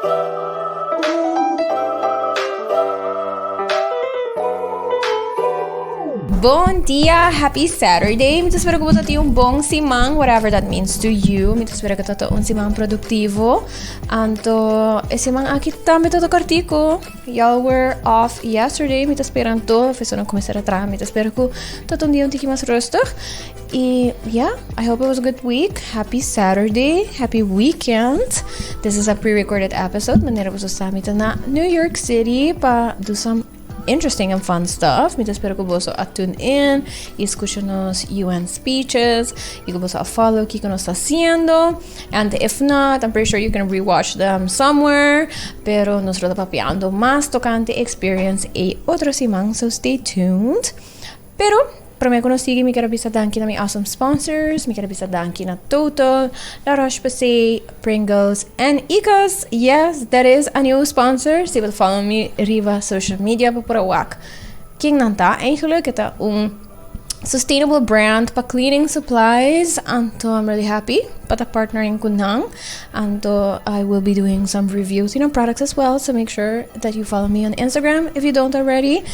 Bon dia, happy Saturday. Mi ta spera ku bo ta tin un bon siman, whatever that means to you. Mi ta spera ku ta ta un siman produktivo. Anto e siman aki tambe ta ta kortiko. Y'all were off yesterday. Mi ta spera anto e fesonan kuminsar a traha. Mi ta spera ku ta ta un dia un tiki mas rustig. Y ya, I hope it was a good week. Happy Saturday, happy weekend. This is a pre-recorded episode, manera ku boso sa mi ta na New York City pa do some interesting and fun stuff. Mi ta spera ku boso a tune in y escucha nos UN speeches y ku boso a follow kiko nos ta haciendo. And if not, I'm pretty sure you can rewatch them somewhere. Pero nos lo ta papiando mas tocante experience e otro siman, so stay tuned. Pero, prome ku nos sigui mi kere bisa danki na mi awesome sponsors, mi kere bisa danki na Total, La Roche Posay, Pringles en Ika's. Yes, dat is a nieuwe sponsor. Si bil follow mi riba social media pa por a wak ken nan ta. Eigenlik e ta un sustainable brand pa cleaning supplies, anto I'm really happy pa ta partnering ku nan. Anto I will be doing some reviews in our products as well so make sure that you follow me on Instagram if you don't already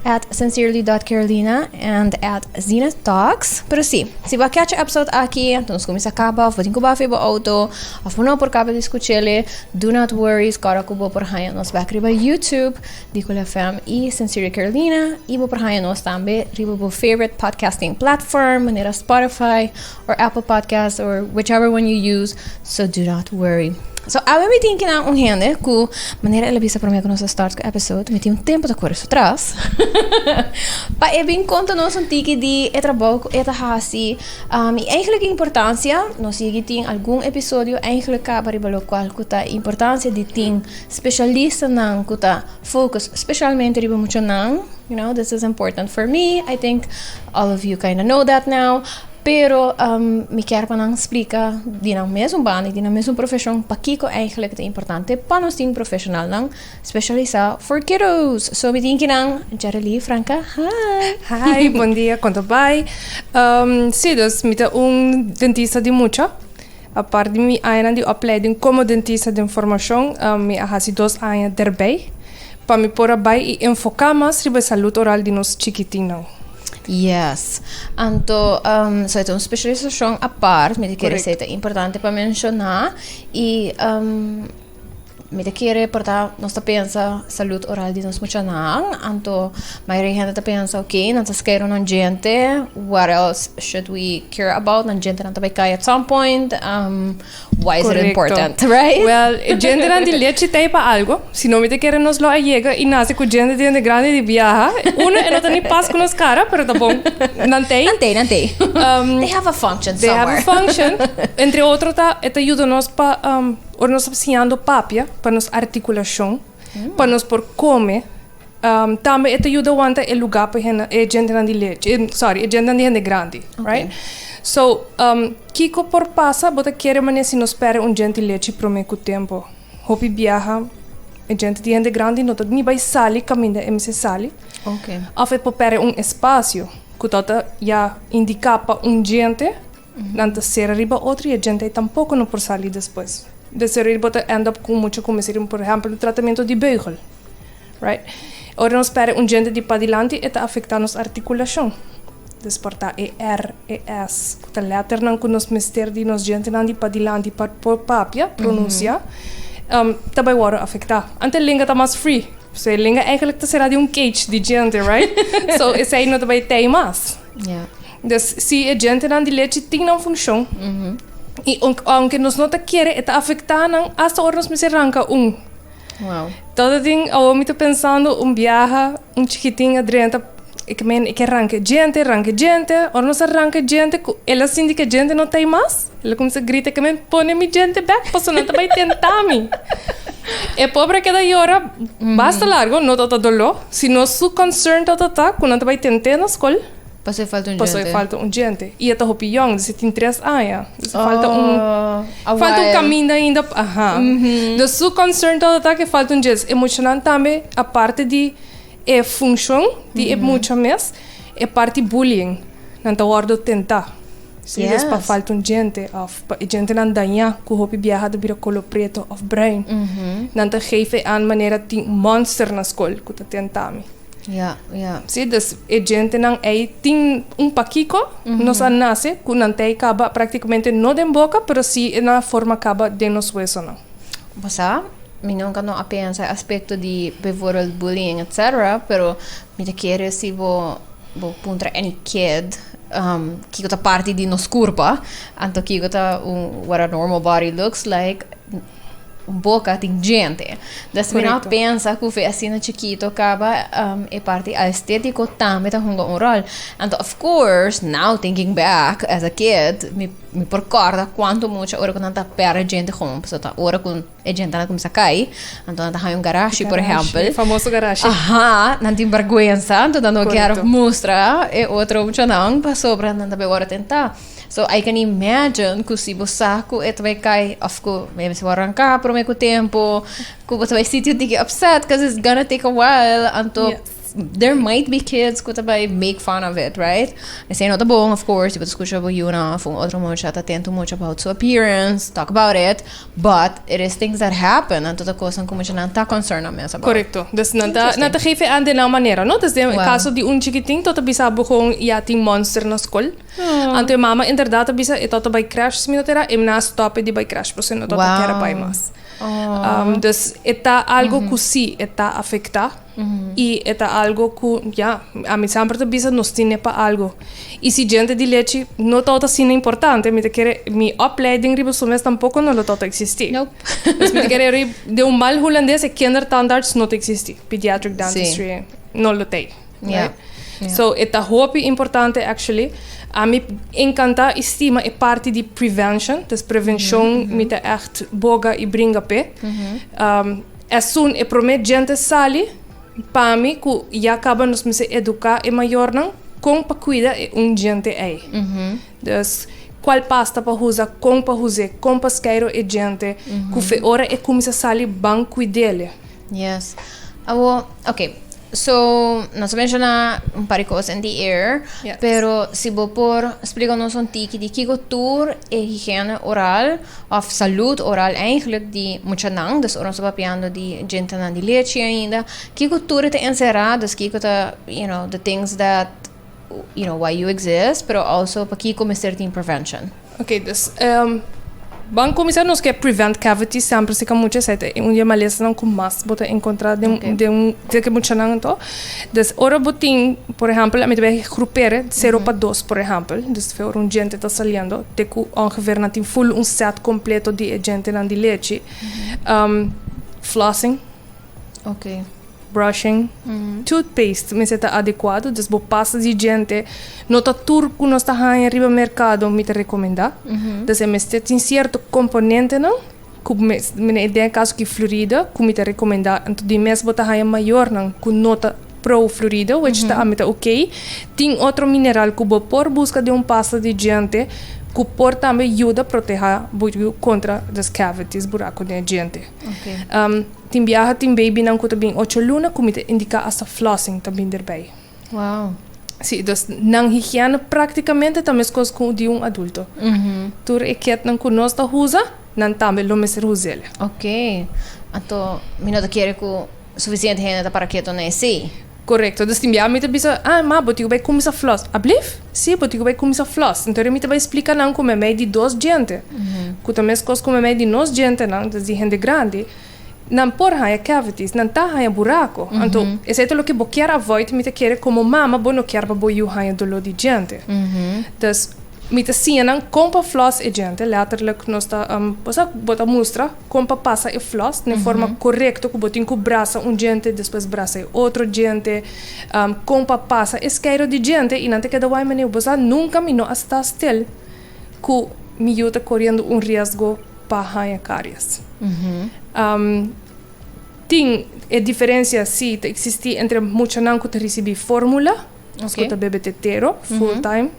at sincerely dot carolina and at zenith talks pero si si bo a catch e episode aki anto nos cuminsa caba of bo tin cu bo afe bo auto of bo no por caba di scuchele do not worry sco ora cu bo por haya nos back riba youtube di cool fm y sincerely carolina y bo por haya nos tambe riba bo favorite podcasting platform manera spotify or Apple Podcast or whichever one you use, so do not worry. So, awe mi tin kinan un hende ku manera el a bisa promé ku nos a start ku episode, mi tin un tempu ta kore su tras, pa e bin konta nos un tiki di e trabou ku e ta hasi, um i eigentlik e importansia. Nos yegi tin algun episodio eigentlik kaba riba lokual ku ta e importansia di tin speshalistanan ku ta fokus speshalmente riba muchanan. You know, this is important for me, I think all of you kinda know that now. Pero mi kier pa nan splika di nan mesun banda y di nan mesun profeshon pakiko eigenlik ta importante pa nos tin profeshonalnan speshalisá for kiddos. So mi tin ki nan Jerelief Franca, hi. Hi, bon dia, kon ta bai? si, dus mi ta un dentista di mucha Apart di mi añanan di opleiding komo dentista den formashon, mi a hasi dos aña derbei pa mi por a bai i enfoká mas riba e salud oral di nos chikitinnan. Yes. Anto, so e ta un speshalisashon apart, mi ta kere Korekto. sei ta importante pa menshoná. I. Mi ta kere porta nos ta pensa salud oral di nos muchanan anto mayoria di hende ta pensa ok nan ta scare nan djente what else should we care about nan djentenan ta bay cay at some point why is it important right well e djentenan di lechi ta ay pa algo si no mi ta kere nos lo a yega y nace cu djente djente grandi di biaha uno e no ta ni pas cu nos cara pero ta bon nan ta ay nan ta ay they have a function somewhere they have a function entre otro ta e ta yuda nos pa Ora nos tabata siñando papia pa nos artikulashon, pa nos por kome, tambe e ta yuda wanta e lugá pa e djentenan di lechi, sòri, e djentenan di hende grandi, right? So, kiko por pasa bo ta kere manera si no spera un djente lechi promé ku tempu? Hopi biaha e djente di hende grandi no ta ni bai sali kaminda e mester sali òf e por pèrdè un espasio ku tabata ya indiká pa un djente. Nan ta sera riba otro y e djente ei tampoco no por sali despues. De serir bo ta end up cu mucha cu mester por ehempel tratamiento di beugel, right? Ora nos perde un djente di padilanti e ta afecta nos articulacion. Desperta e er, e es cu ta letternan cu nos mester di nos djentenan di padilanti pa por papia, pronuncia, ta bay wordo afecta. Ante lenga ta mas free, so e lenga eigenlijk ta sera den un cage di djente, right? So esey no ta bay tey mas. Des si e djentenan di lechi tin nan funshon, i aunke nos no ta kere, e ta afektá nan asta ora nos mester ranka un. Wow. Todo tin, awor mi ta pensando un biaha, un chikitin a drenta, e ke mene, e ke ranka e djente, ranka e djente. Ora nos a ranka e djente, ku el a sinti ke e djente no ta ei mas, el a kuminsá grita, e ke mene, pone mi djente bek, paso nan ta bai tentá mi. E pobre a keda yora basta largu, no tabata doló, sino su concern tabata ta ku nan ta bai tent'é na skol. Paso e falta un djente. Paso e falta un djente. I e ta hopi yong, dus e tin tres aña. Dus e falta un... Oh, Falta un kaminda ainda, aha. Dus su concern tabata ta ke falta un djente. E muchanan tambe, aparte di e funshon di e mucha mes, e parti bullying. Nan ta wòrdu tentá. Si es pa falta un djente òf pa e djentenan dañá ku hopi biaha ta bira kolo preto òf brain, nan ta geef e an manera tin monster na skol ku ta tentá mi. Ya, ya. Sí, dus e djentenan ei tin un pakiko, nos a nase ku nan tei kaba práktikamente no den boka, pero sí e nan a forma kaba den nos wesonan. Bo sa, mi nunka no a pensa e aspekto di beivoorbeeld bullying etcétera, pero mi ta kere si bo bo puntra any kid um kiko ta parti di nos kurpa, anto kiko ta un what our normal body looks like. boka tin djente. Des mi no pensa ku fe asina chikito kaba um, e parti aestético tambe ta hunga un rol. And of course, now thinking back as a kid, mi, mi por korda kuanto mucha ora ku nan ta perde djente gewoon, paso ta ora ku e djente na kumsa kai, anto nan ta haña un garashi, por ehempel. Famoso garashi. Aha, nan tin bergwensa, anto nan no kier mustra e otro muchanan, pasobra nan ta be ora tenta. So I can imagine cu si bo sa cu e ta bay cay of cu maybe si bo a ranca prome cu tempo cu bo ta bay sitio diki upset cuz it's gonna take a while anto yeah. there might be kids cu ta bay make fun of it right esey no ta bon of course si bo ta scucha bo yuna of un otro mucha ta ten too much about su appearance talk about it but it is things that happen anto ta cosnan cu mucha nan ta concern nan mes about correcto dus nan ta nan ta geven aan de nan manera no desde wow. caso di un chikitin to ta bisa bo con ya tin monster na school Anto e mama interdat a bisa e toto bai krèsh si mi no ta era, e mna a stòp e di bai krèsh pasobra e no tabata kèra bai mas. Dus e ta algu ku si e ta afektá i e ta algu ku ya, ami sèmper ta bisa nos tin ne pa algu. I si djente di lechi no tabata asina importante mi ta kere mi opleiding riba su mes tampoko no lo tabata eksistí. Dus mi ta kere ori den un mal hulandes e kindertandarts no ta eksistí, pediatric dentistry no lo tei. Yeah. Yeah. So e ta hopi importante actually. A mi encanta y stima e parte di prevention, dus prevención mm -hmm. mi ta echt boga y bringa pe. Mm -hmm. um, esun e prome gente sali pa mi ku ya acaba nos mese educa e mayornan kon pa cuida e un gente ei. Mm -hmm. Dus cual pasta pa usa, kon pa use, kon pa skeiro e gente, mm -hmm. ku fe ora e kumisa sali ban cuidele. Yes. Awo, ok. So, nos a menciona un par di cosas en di air, Yes. pero si bo por explica nos un tiki di kiko tur e higiene oral of salud oral eigenlijk di muchanan, dus ora nos ta papiando di djentenan di lechi ainda, kiko tur e ta encerra, dus kiko ta, you know, the things that You know, why you exist, pero also pakiko mester tin prevention. Ok, dus um, ban comisar nos que prevent cavity sempre se kan mucha sete un dia malesa nan con mas bota encontra de okay. de un de que mucha nan to des ora botin por ejemplo met be groepere 0 pa 2 por ejemplo des fe un gente ta saliendo de ku ongeveer nan tin full un set completo di agente nan di leche um, flossing Okay. Brushing, toothpaste mester ta adecuado, dus bo pasta di diente no ta tur cu nos ta haña riba mercado mi ta recomenda, dus e mester tin cierto componentenan cu mira e den caso ki florida cu mi ta recomenda, ento di mes bo ta haña mayornan cu no ta pro florida which ta ami ta okay, tin otro mineral cu bo por busca den un pasta di diente cu por tambe yuda proteha bo contra dus cavities, buraco den e diente. Tin biaha tin babynan ku ta bin ocho luna ku mi ta indiká asta flossing ta bin derbei. Sí, dus nan higiene praktikamente ta meskos ku di un adulto. Tur e ketnan ku nos ta usa, nan tambe lo mester us'el. Anto mi no ta kere ku sufisiente hende ta para ketu na esei. Korekto. Dus tin bia mi ta bisa, Ah, ma bo tin ku bai kuminsa flòs. Ablif? Sí, bo tin ku bai kuminsa flòs. Entori mi ta bai splika nan ku meimei di dos djente, ku ta meskos ku meimei di nos djentenan, dus di hende grandi, nan por haña cavities, nan ta haña buraku. Anto, esei ta loke bo kier avoid, mi ta kere komo mama bo no kier pa bo yu haña doló di djente. Dus, mi ta siña nan kon pa flòs e djente, lèterlik nos ta, bo sa, bo ta mustra. Kon pa pasa e floss den forma korekto ku bo tin ku brasa un djente despues brasa e otro djente, kon pa pasa e skeido di djente i nan ta keda wai men ey bo sa nunka mi no a sta stil ku mi yu ta koriendo un riesgo pa haña karies. Tin e diferensia si ta eksistí entre muchanan ku ta risibí fórmula. Nos ku ta bebe te tero, full time,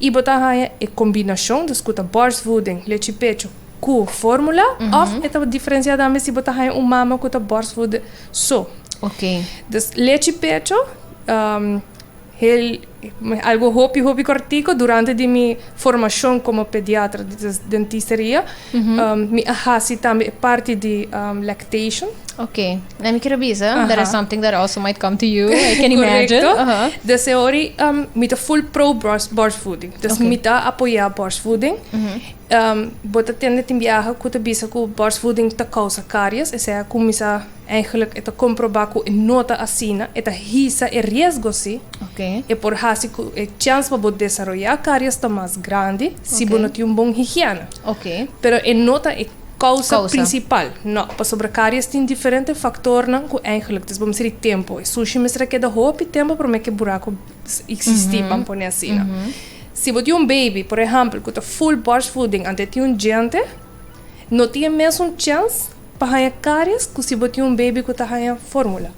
i bo ta haña e kombinashon, dus ku ta bòrstvoeding, lechi pechu, ku fórmula, òf e ta diferensiá tambe si bo ta haña un mama ku ta bòrstvoede so. Dus lechi pechu, hel, algu hopi hopi kòrtiku durante di mi. Formacion como pediatra di dentisteria. Mi a haci tambe e parti di lactation. Ok, na mi quiero bisa, that is something that also might come to you, I can imagine. Correcto. Des e hori mi ta full pro borstvoeding. Des mi ta apoya borstvoeding. Bo ta tende tin biaha cu ta bisa cu borstvoeding ta causa caries, esey a cuminsa. Eigenlijk e ta comproba cu e no ta asina, e ta hisa e riesgo si, e por haci cu e chans pa bo desaroya carias ta mas grandi si bo no tin un bon higiene. Pero e no ta e causa principal, no, pasobra carias tin diferente factornan cu eigenlijk ta esbobamsi di tempo. E sushi mester a keda hopi tempo prome cu e buraco existi, ban pone asina. Si bo tin un baby, por ehempel, cu ta full borstvoeding antes e tin un djente, no tin e mesun chans Pa haña karies ku si bo tin un beibi ku ta haña fórmula.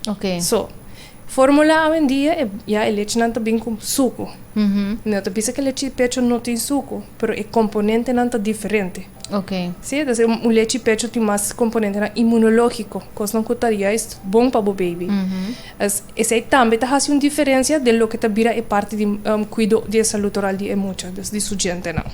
Oke. So, fórmula awendia e, ya e lechenan ta bin ku suku. No ta bisa ku e lechi di pecho no tin suku, pero e komponentenan ta diferente. Oke. Si, entonces un, un lechi di pecho tin mas komponentenan imunológiko, kosnan ku ta juist bon pa bo beibi. Esei tambe ta hasi un diferensia den loke ta bira e parti di kuido di e salud oral di e mucha, dus di su djentenan.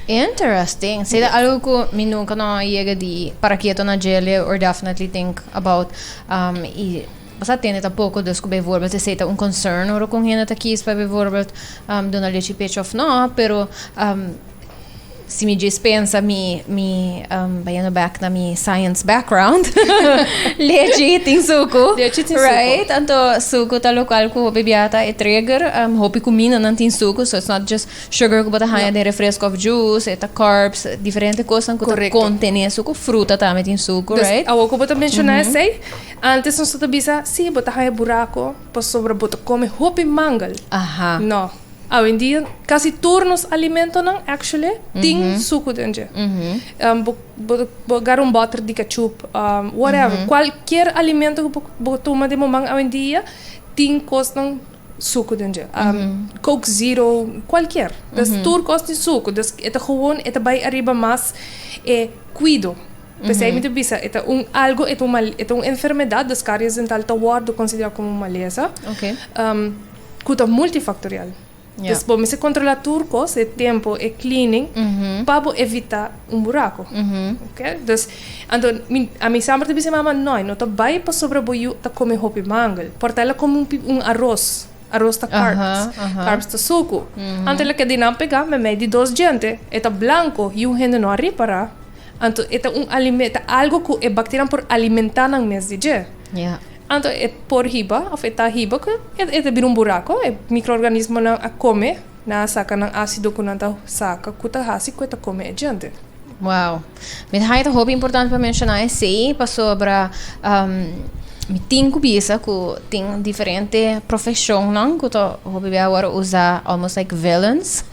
Interesting. Sei ta algo ku mi nunka no a yega di para kieto na djele or definitely think about i bo sa tende ta poko dus ku bijvoorbeeld esei ta un concern ora ku un hende ta kies pa bijvoorbeeld duna lechi pechi òf no, pero. Si mi djes pensa mi mi um, bayando back na mi science background, leche tin suku. Leche tin suku. Right? Anto suku ta lokal ku hopi biata e trigger, um, hopi kumina nan tin suku, so it's not just sugar ku bota haya den refresco of juice, eta carbs, diferente kosan ku ta kontene suku, fruta tambe tin suku, right? Dus awo ku bota menshona esei, antes nos tabata bisa, si, bota haya buraku, pasobra bota kome hopi mangel. Aha. No. Awendia casi tur nos alimentonan actually tin sucu den dje. Um, bo, bo, bo gar un botter di ketchup, um, whatever. Cualquier alimento que bo, bo tuma den moman awendia tin cosnan sucu den dje. Um, Coke Zero, cualquier. Dus tur cos tin sucu. Dus e ta gewoon, e ta bay ariba mas e cuido. Pesey mi ta bisa, e ta un algo, e ta un mal, e ta un enfermedad, dus caries dental ta wordo considera como un malesa. Okay. Um. cu ta multifactorial. Yeah. Dus bo mester controla tur cos, e tempo, e cleaning, pa bo evita un buraco. Ok? Dus, anto, mi, a mi samper ta bisa mama, noi, no ta bai pasobra bo yu ta come hopi mangel. Por ta el a come un, pi- un arroz. Arroz ta Aha, carbs. aha. Carbs ta sucu. Anto el a keda di nan pega memey di dos djente, e ta blanco, y un hende no a ripara. Anto, e ta un alime, ta algo cu e bacterianan por alimenta nan mes di dje. Yeah. Anto e por hiba of e ta hiba ku e ta bira un burako. E mikroorganismonan a kome, nan a saka nan asido ku nan ta saka ku ta hasi ku e ta kome e djente. Wow. Mi ta haña ta hopi importante pa menshoná esei pasobra mi tin ku bisa ku tin diferente profeshonnan ku ta hopi bia awor usa almost like villains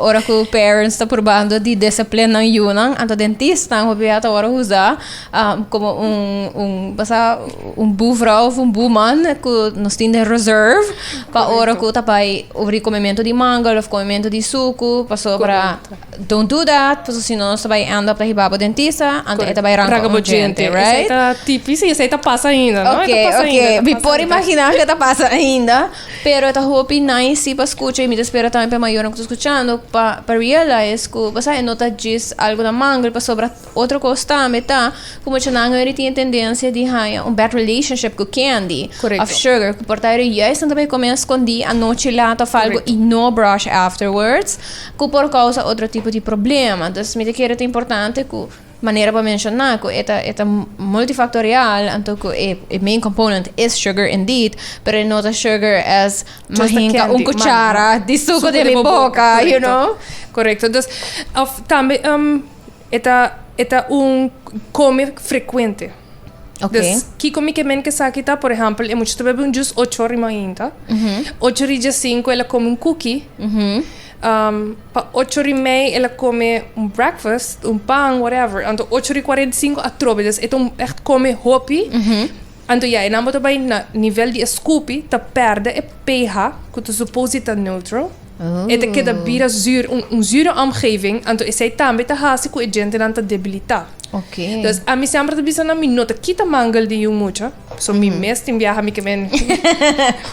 ora ku parents ta probando di desiplen nan yunan. Anto den tistnan hopi bia ta awor usa. Um, como un, un, basa, un boevrouw of un boeman, ku nos tin den reserve, pa ora ku ta bai obri komemento di mango of komemento di suku, paso para, don't do that, paso si no nos ta bai end up ta hiba bo dentista, ante e ta bai ranka un djente, Esei right? ta tipis i esei ta pasa ainda, no? E ta Oké, pasa ainda, e oké, ta mi pasa por ainda. imagina ke ta pasa ainda, pero e ta hopi nice si pa skucha i mi ta spera tambe pa e mayornan ku ta skuchando pa pa realize ku, basa, e no ta djis algu na mango pasobra Otro kos tambe ta ku muchanan ora tin e tendensia di haña un bad relationship ku candy òf sugar ku por ta ora juist nan ta bay kome eskondí anochi lat òf algu i no brush afterwards ku por kousa otro tipo di problema. Dus mi ta kere ta importante ku manera bo a menshoná ku e ta e ta multifaktorial anto ku e e main component es sugar indeed pero e no ta sugar as mi hinka un kuchara di suku den mi boka you know. Korekto. Dus òf tambe. E ta e ta un come frecuente. Okay. Dus kiko mi ke men ke sa ki ta, por ejempel, e mucha ta bebe un jus ocho ora rima hinta. Ocho ri dje sinku el a come un cookie. Um, pa ocho ri mei el a come un breakfast, un pan, whatever. Anto ocho ri cuarenta y cinco atrobe. Dus e ta un echt come hopi. Anto ya, e nan bo ta bai na nivel di e scupi, ta perde e pH, ku ta suppose di ta neutral. E ta keda bira zür, un züre omgeving, anto esei tambe ta hasi ku e djentenan ta debilitá. Los, ami semper ta bisa nan mi no ta kita mangel di un mucha, so mi mes tin biaha mi ke bini.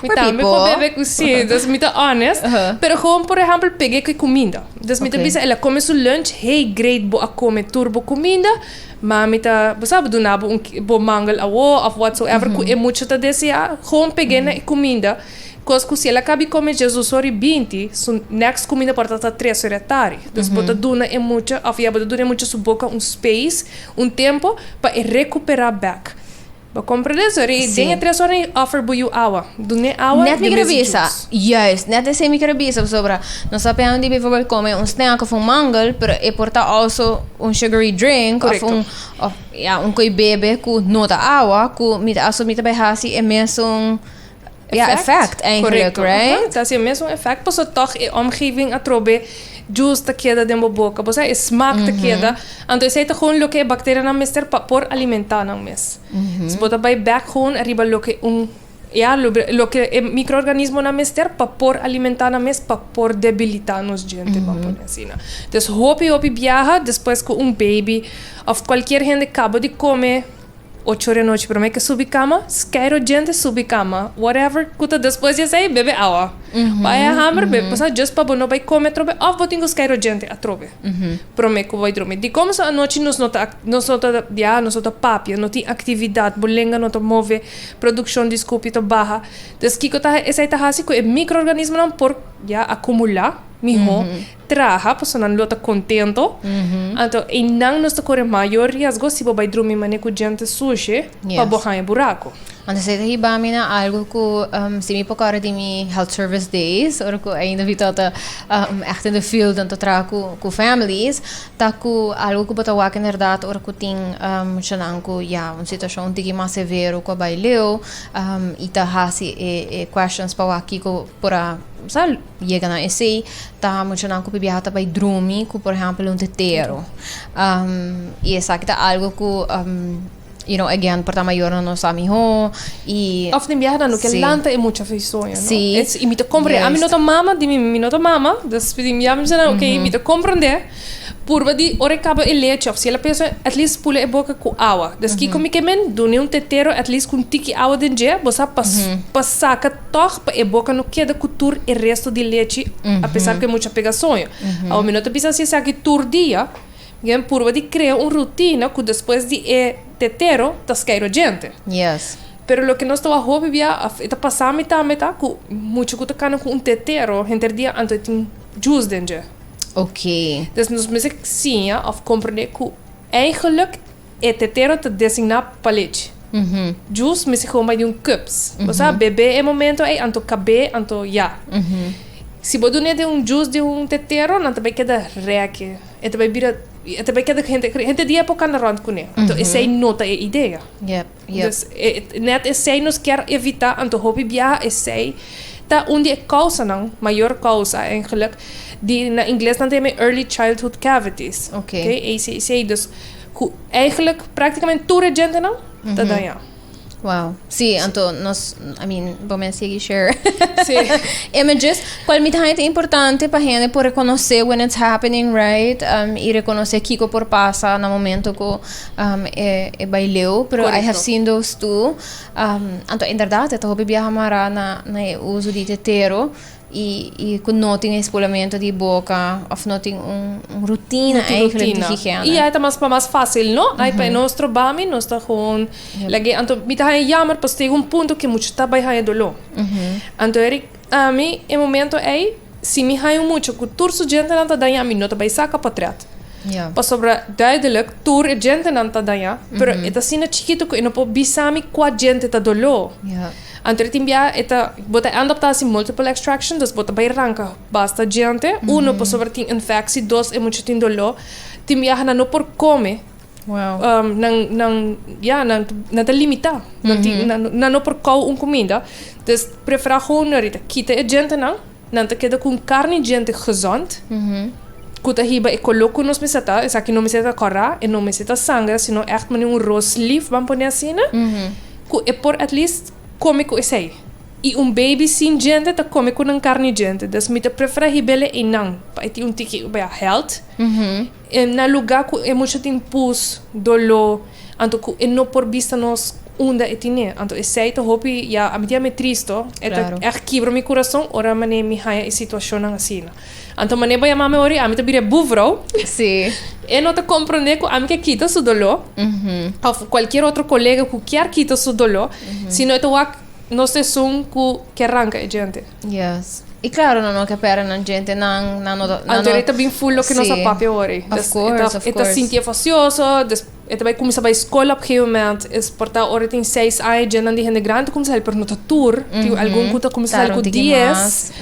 Mi tambe por bebe ku si, los mi ta honest, pero gewoon por ehempel peg'é ku e kuminda. Los mi ta bisa el a kome su lunch hei great bo a kome tur bo kuminda, ma mi ta, bo sabe, duna bo un, bo mangel awor òf whatsoever ku e mucha ta deseá, gewoon peg'é na e kuminda. Kos ku si el a ka bi kome Jesus ora i binti, su next kuminda por ta ta tres ora e tardi. Dus bo ta duna e mucha, òf ya bo ta duna e mucha su boka un space, un tempu, pa e rekuperá bèk. Bo komprende? So ora den e tres oranan i òfer bo yu awa. Dun'é awa, den mester djus. Nèt mi kere bisa. Juist. Nèt esei mi kere bisa pasobra nos ta pensa di biforbèl kome un snèk òf un mangel, pero e por ta also un shugary drink òf un, òf, ya, un koi bebe ku no ta awa, ku mi ta aso mi ta bai hasi e mesun. Ja, effect eigenlijk, right? Ta haciendo mes un effect, paso toch e omgeving a trobe juice ta keda den bo boca, bo sa e smaak ta keda, anto esey ta gewoon loke e bacterianan mester pa por alimenta nan mes. So bo ta bay back gewoon ariba loke un, ya, loke e microorganismonan mester pa por alimenta nan mes, pa por debilita nos djente, bo a pone asina. Des hopi hopi biaha, despues cu un baby, of cualkier hende caba di come, Ocho di anochi prome ke subi kama, skei ro djente subi kama, whatever ku ta despues di esei bebe awa. Bai a hamer, bebe pasá djus pa bo no bai kome atrobe òf bo tin ku skei ro djente atrobe. Prome ku bo bai drumi. Di kominso anochi nos no ta ak, nos no ta biaha, nos no ta papia, no tin aktividat, bo lenga no ta move, produkshon di skupio ta baha. Des kiko ta esei ta hasi ku e mikroorganismonan por, ya, akumulá mihó. traha pasobra nan lo ta contento anto eynan nos ta core mayor riesgo si bo bay drumi manera cu djente sushi pa bo haya buraco. Want esey ta hiba mi na algo cu si mi pacora di mi health service days ora cu ainda mi ta ta echt in the field en ta traha cu cu families ta cu algo cu bo ta wak en herdad ora cu tin muchanan cu ya un situacion un tiki mas severo cu a bay leo y ta haci e e questions pa wak kico por a sa. Yega nan esei ta muchanan ku pipiaha ta bai drumi ku por ehèmpel un tetero i esaki ta algu ku you know again por ta mayornan no sa mihó i Òf den biaha nan lo ke lanta e mucha fesoño no si i mi ta komprende ami no ta mama di mi mi no ta mama dus ya mi bisa nan okay mi ta komprende. Purba di ora e caba e leche of si el a pensa at least pula e boca cu awa. Deski cu mi ke men dune un tetero at least cu un tiki awa den dje, bo sa pa pa saca toch pa e boca no keda cu tur e resto di leche a pesar cu e mucha pega soño. Awa mi no ta bisa si esaki tur dia, mi ke men purba di crea un rutina cu despues di e tetero ta skei rojente. Yes. Pero loke nos ta wak hopi bia of e ta pasa mi tambe ta cu mucha cu ta cana cu un tetero henter dia anto e tin jus den dje. Oké. Dus nos mester siña òf komprendé ku èigelik e tetero ta designá pa lechi. Jus mester kon bai di un cups. Bo sa, bebé e momento ei anto kabé anto ya. Si bo dun'é den un jus di un tetero, nan ta bai keda rèk'e. E ta bai bira, e ta bai keda ku hente, hente di e por kanda rònt kuné. Anto esei no ta e idea. Dus net esei nos kier evitá, anto hopi biaha esei ta un di e kousanan, mayor kousa eigenlijk, di na ingles nan ta yama e early childhood cavities, Ok. ke ACC, dus ku eigenlik praktikamente tur e djentenan ta dañá. Wow. Sí, anto nos, I mean, bo men sigui share Sí. images. Cual mi ta haya ta importante pa hende por reconoce when it's happening, right? Um, y reconoce kiko por pasa na momento cu Um, e, e bai leu, pero Correcto. I have seen those too. Um, anto inderdaad, e ta hopi biaha mara na, na e uso di tetero y, y cu no tin espolamento di boca of no tin un, un rutina no eigenlijk di higiene. Y ai ta mas pa mas fácil, no? Ai pa e no stroba mi, nos ta gewoon Yep. lag'é. Anto mi ta haña yammer, pasobra ta yega un punto ke mucho ta bai haña doló. Anto Eric. Ami e momento ey si mi haña un mucha cu tur su djentenan ta daña mi no ta bay saca potret. Yeah. Pasobra duidelijk tur e djentenan ta daña, pero e ta asina chikito cu e no por bisami cua djente ta dolo. Yeah. Anto e tin bia e ta bo ta end up ta haci multiple extraction, dus bo ta bay ranca basta djente, uno pasobra tin infecci, dos e mucha tin dolo, tin biaha nan no por come Wow. Um, nan, nan, ja, nan, nan ta limitá. Mm -hmm. nan, nan no por kou un comida. Dus prefera gewoon na rita kita e gente nan. Nan ta keda con carne gente gezond. Mm -hmm. Cu ta hiba e color cu nos mester ta. Esaki no mester ta corá, e no mester ta sangra, sino echt mani un roast leaf ban pone asina. Mm -hmm. Cu e por at least come cu esei. I un baby sin gente ta come cu nan carne gente. Dus mi ta prefera hibele einan. Pa e tin un tiki, baya, health. Mm -hmm. Na luga ku e mucha tin pus, doló, anto ku e no por bista nos unda e tine. Anto esei ta hopi ya, a mi tin ame tristo, e ta ègt kibra mi kurason ora manera mi haña e situashonnan asina. Anto manera bo yama mi ora, ami ta bira e buvrou, e no ta komprondé ku ami ke kita su doló, òf kualkier otro kolega ku kier kita su doló, sino e ta wak nos ta esun ku ke ranka e djente. Yes. Y claro, nan no ke pèrdè nan djente, nan, nan no ta... nan no- Anterior ta bin full lo ke nos Sí. a papia awor. Of Dus course, e ta, of e ta course. sinti enfasioso, des, e ta bai kuminsá bai skol op gegeven moment. Es por ta ora e tin seis aña dje nan di hende grandi ta kuminsá sali, pero no ta tur. Tin algun ku ta kuminsá sali Tara un ku tiki dies. mas.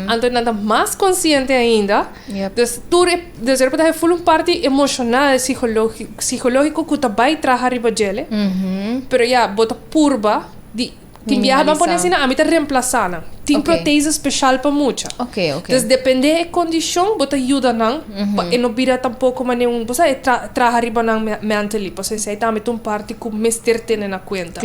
Anto nan ta mas konsiente ainda. Yep. Dus tur e, dus e por ta hei full un parti emoshonal, sihológi, sihológiko ku ta bai traha riba djele. Pero ya, bo ta purba di Tin biaha ban pone asina, ami ta remplasa nan. Tin protese special pa mucha. Entonces depende e condicion bo ta yuda nan pa e no bira tampoco mane un, bo sa e traha riba nan mentally, pasobra esey tambe ta un parti cu mester tene na cuenta.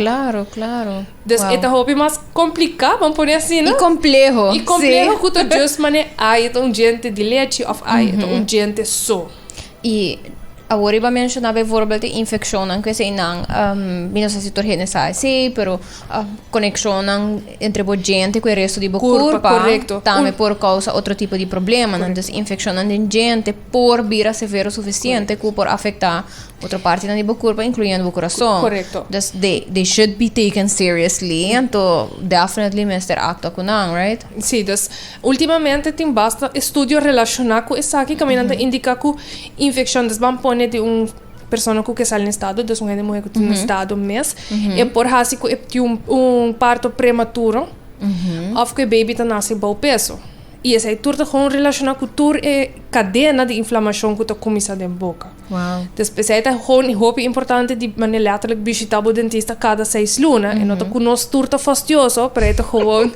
Entonces e ta hopi mas complica, ban pone asina. Y compleho. Y compleho cu ta just mane, ay e ta un diente di lechi of ay e ta un diente so. I awor riba menshona bijvoorbeeld e infeccionnan cu eseinan, mi no sa si tur hende sa esey, pero coneccionnan entre bo djente cu e resto di bo curpa, tambe por causa otro tipo di problemanan. Dus infeccionnan den djente por bira severo suficiente cu por afecta otro partinan di bo curpa, incluyendo bo curason. Dus they should be taken seriously, anto definitely mester actua cu nan, right? Sí, dus últimamente tin basta estudio relashoná ku esaki kaminda ta indiká ku infekshon des ban pone di un persona ku ke sali na estado, dus un hende muhé ku ta na estado mes, e por hasi ku e tin un parto prematuro òf ku e beibi ta nase bou peso. I esei tur ta gou relashoná ku tur e kadena di inflamashon ku ta kuminsá den boka. Pues esei ta hopi importante di manera letterlijk bishita bo dentista cada seis luna e no ta cu nos tur ta fastioso pero e ta gewoon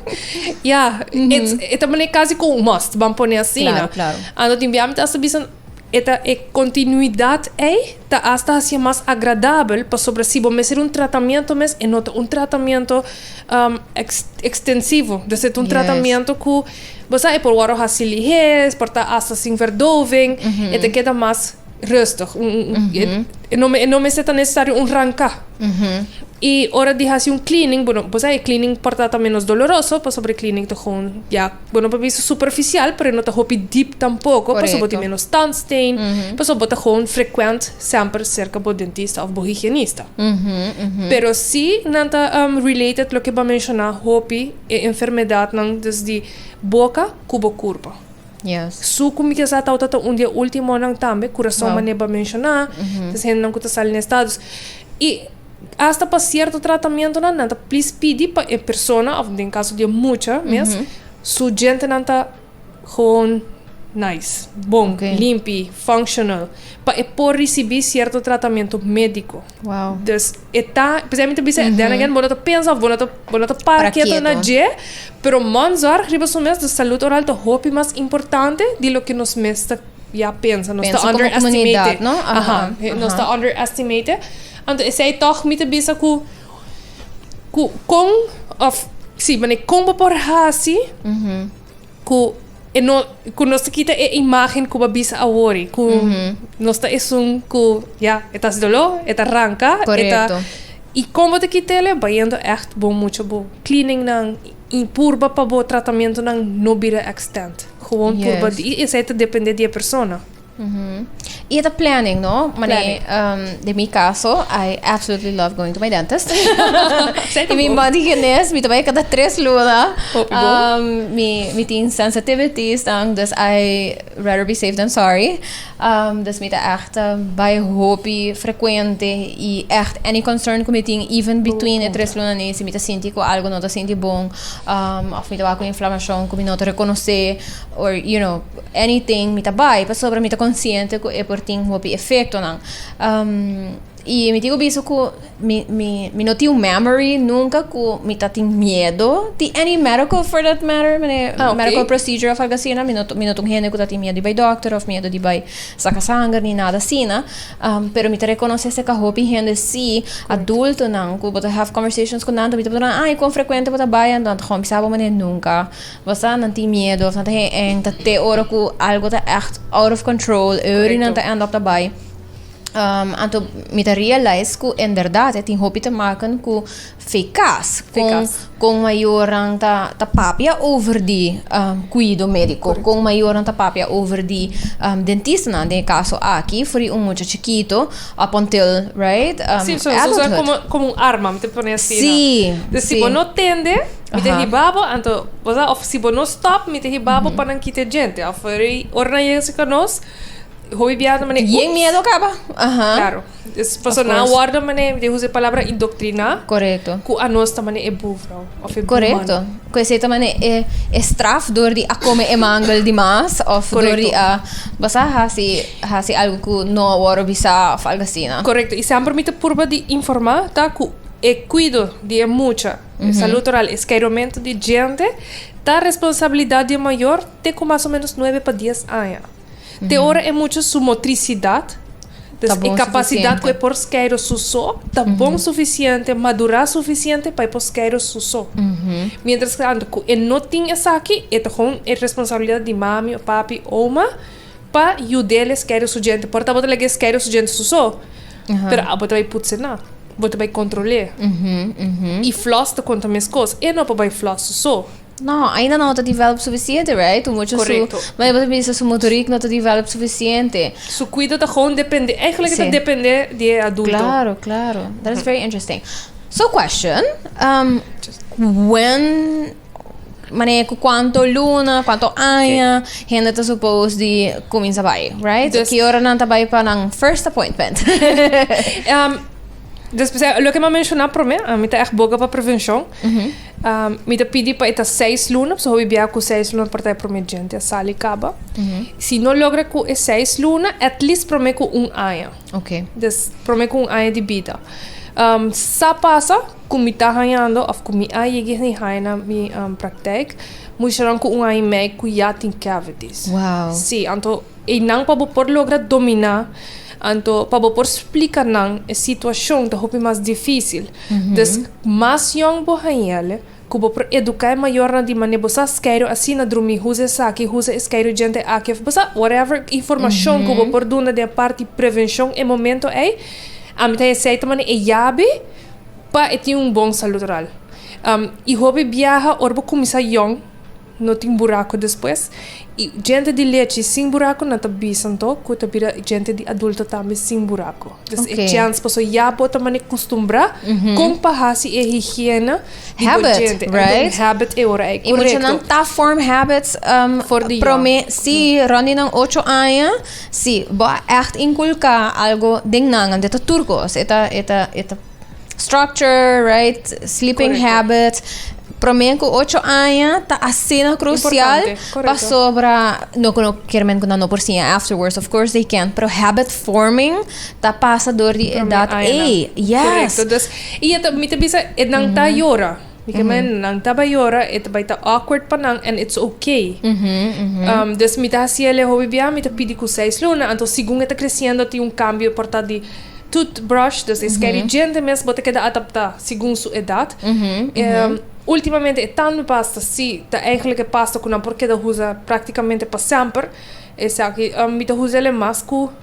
ya e ta manera casi como un must ban pone asina anto tin bia mi ta hasta bisa e ta e continuidad ei ta hasta haci'e mas agradabel pasobra si bo mester un tratamiento mes e no ta un tratamiento extensivo ta ser un tratamiento cu Bo sa, e por wòrdu hasi liher, e por ta asta sin verdoving, e ta keda mas rustig. E no mester ta nesesari un ranka. I ora di hasi un cleaning, bo no, bo sa e cleaning por ta ta menos doloroso, pasobra e cleaning ta gewoon ya, bo no por bisa superficial, pero e no ta hopi diep tampoko, pasobra bo tin menos tandstain, pasobra bo ta gewoon frecuent semper cerca bo dentista of bo higienista. Pero si nan ta related loke bo a menciona hopi. e enfermedadnan desdi boka ku bo kurpo. Yes. Su ku mi kier sa tawata ta un di e ultimonan tambe, kurason Wow. mane ba menshoná, ta es hendenan ku ta sali n'e estados. I hasta pa sierto tratamentonan nan ta plis pidi pa e persona òf den kaso di e mucha mes su djentenan ta Gewoon nice, bon, limpi, functional, pa e por risibi sierto tratamentu mediko. Wow. Dus e ta, p'esei mi ta bisa, den again, bo no ta pensa of bo no ta, bo no ta para Para keto na kieto. dje, pero manzorg riba su mes, dus salud oral ta hopi mas importante di loke nos mes ta ya pensa. Nos Pensa ta como underestimate. comunidad, no? Aha, Aha, he- Nos aha. ta underestimate. Anto esei tòg mi ta bisa ku Cu con of si manera con bo por haci cu e no cu nos ta kita e imagen cu bo bisa awor cu nos ta esun cu ya e ta haci dolo e ta ranca e ta Correcto. y con bo ta kitele bayendo echt bon mucho bo cleaning nan y purba pa bo tratamentonan no bira extend gewoon purba Yes. di y esey ta depende di e persona. Y e ta planning, no? Mané, Planning. ehm, de mi caso, I absolutely love going to my dentist. Zij y mi tampoco. body genes, mi trabaja cada tres luna. Hopi bo. Ehm, mi, mi tin sensitivities, dan, dus I rather be safe than sorry. Ehm, dus mi ta echt eh, bai hopi frecuente y echt any concern cu mi tin, even between e tres luna nee, si mi ta sinti cu algo no ta sinti bon, ehm, of mi ta wak cu inflamacion cu mi no ta reconoce, or, you know, Anything mi ta bai pasobra mi ta konsiente ku e por tin hopi efektonan. I mi tin ku bisa ku mi mi mi no tin un memory nunka ku mi ta tin miedu di any medical for that matter mane medical procedure òf algu asina mi no mi no ta un hende ku ta tin miedu di bai dòkter òf miedu di bai saka sanger ni nada asina pero mi ta rekonosé se ku hopi hende si adultonan ku bo ta have conversations ku nan mi ta pregunta nan ah i kon frekuente bo ta bai anto nan ta kòmen sa bo mane nunka. Bo sa, nan tin miedu of nan ta gen enka te ora ku algu ta ègt out of control, e ori nan ta end up ta bai. Um, anto mi ta realize ku en bèrdat e tin hopi te maken ku fekas, kon Fekas. kon mayornan ta ta papia over di um, kuido médiko, kon mayornan ta papia over di um, dentistanan, den e kaso aki for di un mucha chikito up until, right, um, Si, so, so, so e adulthood. komo komo un arma, mi ta pone asina. Sí, Des si sí. bo no tende, Mi ta hiba bo, anto, bo sa, of si bo no stòp, mi ta hiba bo pa nan kita e djente. Of rei, ora nan yega cerca nos, hopi bia ta manera, Yen miedo a caba. Ahan. Claro. Es pasobra Of nan a course. wòrdu manera, mi ta usa e palabra indoctriná, Correcto. cu a nos ta manera e bufrou, of e buman. Correcto. Cu esei ta manera e, e straf dor di a come e mangel di mas, of dor Correcto. di a, bo sa, haci, haci algo cu no a wòrdu bisa, of algo asina. Correcto. Y semper mi ta purba di informa ta cu e cuido di e mucha, Salud oral, e skeiromentu di djente ta responsabilidat di e mayor te ku mas o menos nuebe pa dies aña. Te ora e mucha su motrisidat, dus e kapasidat ku e por skeiro su so, ta bon sufisiente, madurá sufisiente pa e por skeiro su so. Miéntrastantu ku e no tin esaki, e ta kon e responsabilidat di mami o papi, oma. Pa yu del e skeru su djente por ta bo ta lege e skeru su djente su so pero abo ta bai putse na bo ta bai kontrole i flòs ta konta mes kos e no por bai flòs su so no ainda no ta develop sufisiente right un mucha su ma e bo ta bisa su motorik no ta develop sufisiente su kuido ta gewoon depende eigenlijk e ta depende di e adulto klaro klaro that is very interesting so question when. manera cu cuanto luna, cuanto aña okay. hende ta supposed di comienza bai, right? Dus, que hora nan ta bai pa nan first appointment? um, después, eh, lo que me mencioné promé, a mí ta echt boga pa prevención. Uh -huh. um, mi ta pidi pa eta seis luna, so hobi bia cu seis luna por ta e promé gente, sal y caba. Uh -huh. Si no logra cu e seis luna, at least promé cu un aña. Okay. Des, promé cu un aña di vida. Um, sa pasa, Ku mi ta hañando òf ku mi a yeg'e di haña na mi praktèk mushanan ku un aña i mei ku ya tin cavities. Wow. Sí, anto einan pa bo por logra dominá, anto pa bo por splika nan e situashon ta hopi mas difísil. Des mas yòn bo haña'l, ku bo por eduká e mayornan di manera bo sa skeiru asina drumí, husa esaki, husa e skeiru djente aki òf bo sa whatever informashon ku bo por duna den e parti prevenshon e momento ei. Ami ta hesei ta manera e yabi. Pa e tin un bon salud oral. Y hopi biaha or bo cuminsa yong no tin buraco despues. Y djente di lechi sin buraco nan ta bisan to cu ta bira djente di adulto tambe sin buraco. Des e chance paso ya bo ta mane custumbra con pa haci e higiene di bo djente. Hay den habit e ora ey. Correcto. Y muchanan ta vorm habits prome, si, rond di nan ocho aña. Si, bo a ègt inkulká algu den nan, anto e ta tur kos. E ta, e ta, e ta structure, right, sleeping habits. Promé ku ocho aña ta asina krusial pasobra no ku no kier mente ku nan no por siña afterwards, of course they can, pero habit forming ta pasa dor di edat ei. Yes. Korekto. Dus, i e ta, mi ta bisa e nan ta yora. Mi ke men nan ta bai yora e ta bai ta awkward pa nan and it's ok dus mi ta hasi el e hopi bia mi ta pidi ku seis luna anto segun e ta kresiendo tin un kambio por ta di toothbrush dus e skei di djente mes bo ta keda adapta segun su edat ultimamente e tandmi pasta si ta eigenlijk e pasta ku nan por keda usa praktikamente pa semper esaki mi ta usa el e mas ku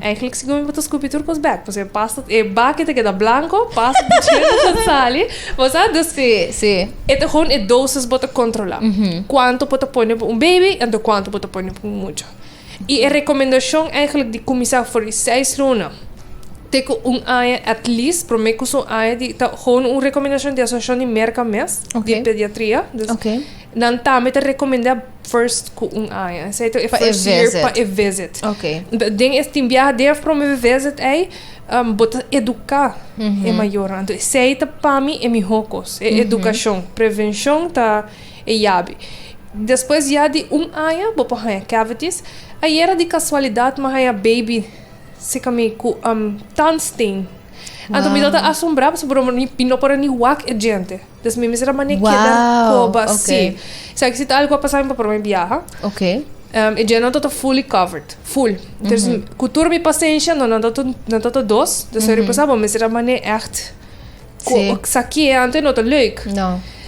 Eigenlijk si gomi bo ta skupi tur kos bek pasobra e pasta e baki ta keda blanko pasta ta china den sali bo sa dus e ta gou e dosis bo ta kontrola kuantu bo ta pone pa un baby enton kuantu bo ta pone pa un mucha i e rekomendashon eigenlijk di kuminsá for di seis luna te ku un aña atleast prome kusu aña di ta gou un rekomendashon di asosiashon di Merka mes di pediatria. Nan tambe ta recomenda first cu un aña. Esey ta e pa first e year visit. pa e visit. Okay. Den e tin biaha den e prome visit ey, um, bo ta educa mm -hmm. e mayornan. Entonces esey ta pa mi e miho cos, e mm -hmm. educacion. Prevencion ta e yabi. Despues ya di un aña bo por haya cavities. Ayera di casualidad mi a haya baby cerca mi cu um, tandstein. Wow. Anto mi no ta asombra pasobra mi no por ni wak e djente. Des mi mester a mane keda koba si. Sa ki si ta algu a pasa mi pa prome biaha. E dje nan ta ta fully covered. Full. Entonces ku tur mi pasensha no nan ta ta nan ta ta dos. Entonces ora mi pensa bo mester a mane ègt sa ki e anto e no ta leuk.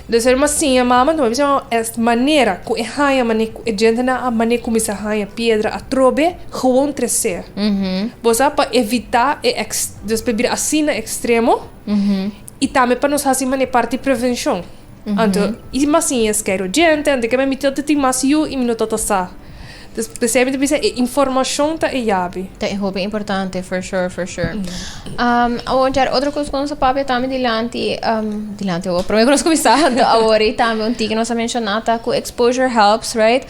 Entonces ora mi a siña mama mi a siña e manera ku e haña mane ku e djentenan a mane kuminsá haña piedra atrobe gewoon tresé. Bo sa pa evitá e èks. Pues pa bira asina ekstremo. y tambe pa nos haci mane parti di prevencion anto y mas sin e scare oyente anto kema mi ta tin mas yu y mi no ta ta sa dus p'esei mi ta bisa e informacion ta e yabi. Ta e hopi importante for sure for sure awor otro cos cu nos a papia tambe dilanti dilanti awor prome cu nos cuminsa anto awor y tambe un tin cu nos a menciona ta cu exposure helps right